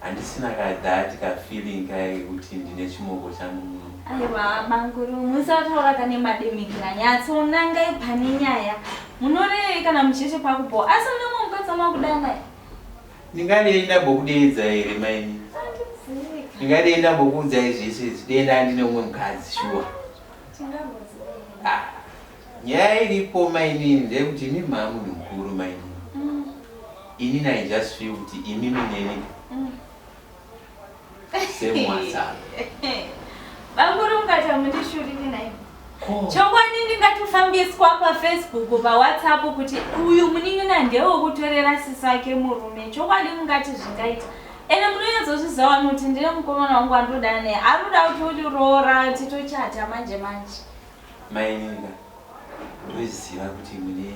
Handisina ka that ka feeling kaye kekuti ndine chimoko changu muno. Aiwa banguru musataura kane mademikira nyatso nangai pane nyaya. Munorei kana muchete pakupo asi mune mumwe mukadzi amakudana. Ndingadei ndambokudeedza here maini? Ndingadei ndambokuudzai zvese izvi dei ndandine umwe mukadzi shuwa. Tingamboziva. Ah. Nyaya iripo mainini ndeyekuti imimi maamunhu mukuru mainini inini I just feel kuti imimi neni same watsano. Bamkuru mukati hamundishuriri nhaimi. Chokwadi ndingatofambiswa pafacebook pawhatsapp kuti uyu munin'ina ndewekutorera sisi vake murume chokwadi mungati zvingaita ende munonyatsozviziva vanhu kuti ndine mukomana wangu wandodana naye anoda kuti uroora titochata manje manje Maininga ndoziva kuti mune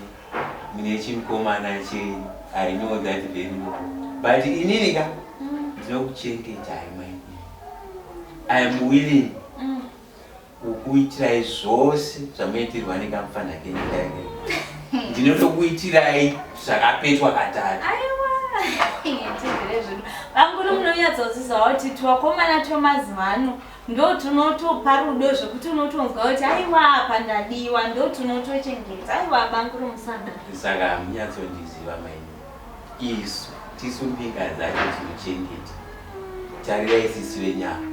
mune chimkomana chenyu I know that very well but inini ka ndinokuchengetai mainini I am willing mm. kukuitirai zvose zvamuitirwa nekamufana kenyu kaike ndinotokuitirai zvakapetwa katatu vanguri munonyatsozizawo kuti twakomana twemazuva ano ndotunotopa rudo zvekuti unotonzwa kuti aiwa apa ndadiwa ndotunotochengeta aiwa banguro musada saka hamunyatsondiziva maini isu tisu mbika dzacho tinochengeta tarira isisi venyama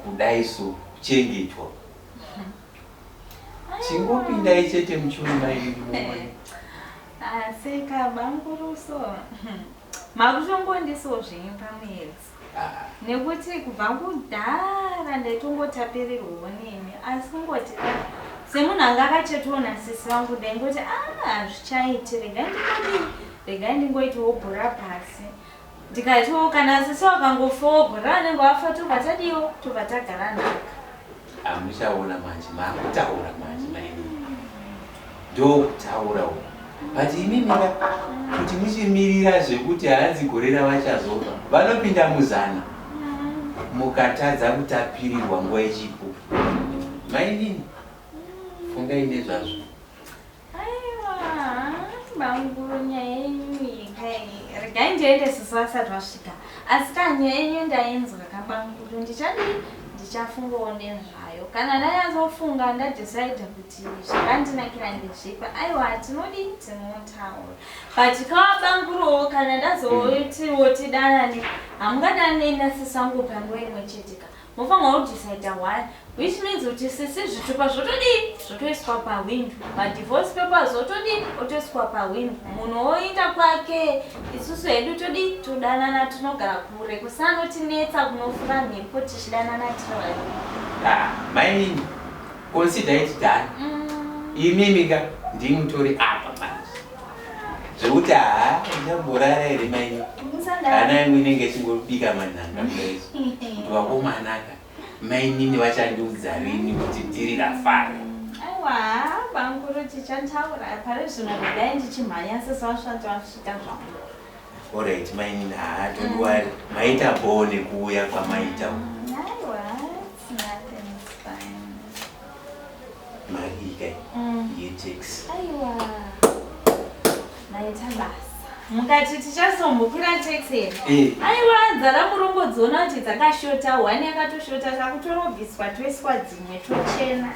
kudai so kuchengetwa chingopindai chete muchuri maini aseka ah, banguruso makutongondiso zvenyu pamwedzi nekuti kubva kudhara ndaitongotapirirwawo nemi asi kungoti semunhu anga akachetiwo nasisi vangu ndaingoti ah, hazvichaiti regai ndingodi regai ndingoitawo bhora pasi ndikatiwo kana sisi vakangofawo bhora vanenge vafa tobva tadiwo tobva tagara nhaka Ah, muchaona manje makutaura manje maini ndokutaura uku but imi mira kuti muchimirira zvekuti hanzi gore ravachazofa vanopinda muzana mukatadza kutapirirwa nguva ichipo mainini fungai nezvazvo Aiwa banguru nyaya yenyu yekai regai ndiende sisi vasati vasvika asi ka nyaya yenyu ndainzwa kabanguru ndichadii ndichafungawo nezvayo kana ndanyatsofunga ndadecide kuti zvakandinakira ndezvipi aiwa tinodii tinotaura but kawabanguruwo kana ndazootiwo tidanane hamungadanei nasisangu panguva imwe cheteka Mofanirwa kudecider one which means kuti sisi zvitupa zvotodii zvotoiswa pahwindo madivorce papers otodii otoiswa pahwindo munhu oinda kwake isusu hedu todii todanana tinogara kure kusanotinetsa kunofura mhepo tichidanana tiri vaviri ah, mainini consider it done mm. imimi ka ndimutori apa zvekuti haa ndamborara here maini hana yangu inenge ichingobika manhanga kudaizvo kuti vakomanaka mainini vachandiudza rini kuti ndiri rafara aiwa banguru tichantaura pari zvino ndidai ndichimhanya sesavasvati vasvika zvangu orit mainini haa tondiwari maita boo nekuuya kwamaita aiwa mukati tichazombokwira taxi here eh. aiwa dzara murombo dziona kuti dzakashota one yakatoshota takutorobviswa toiswa dzimwe tochena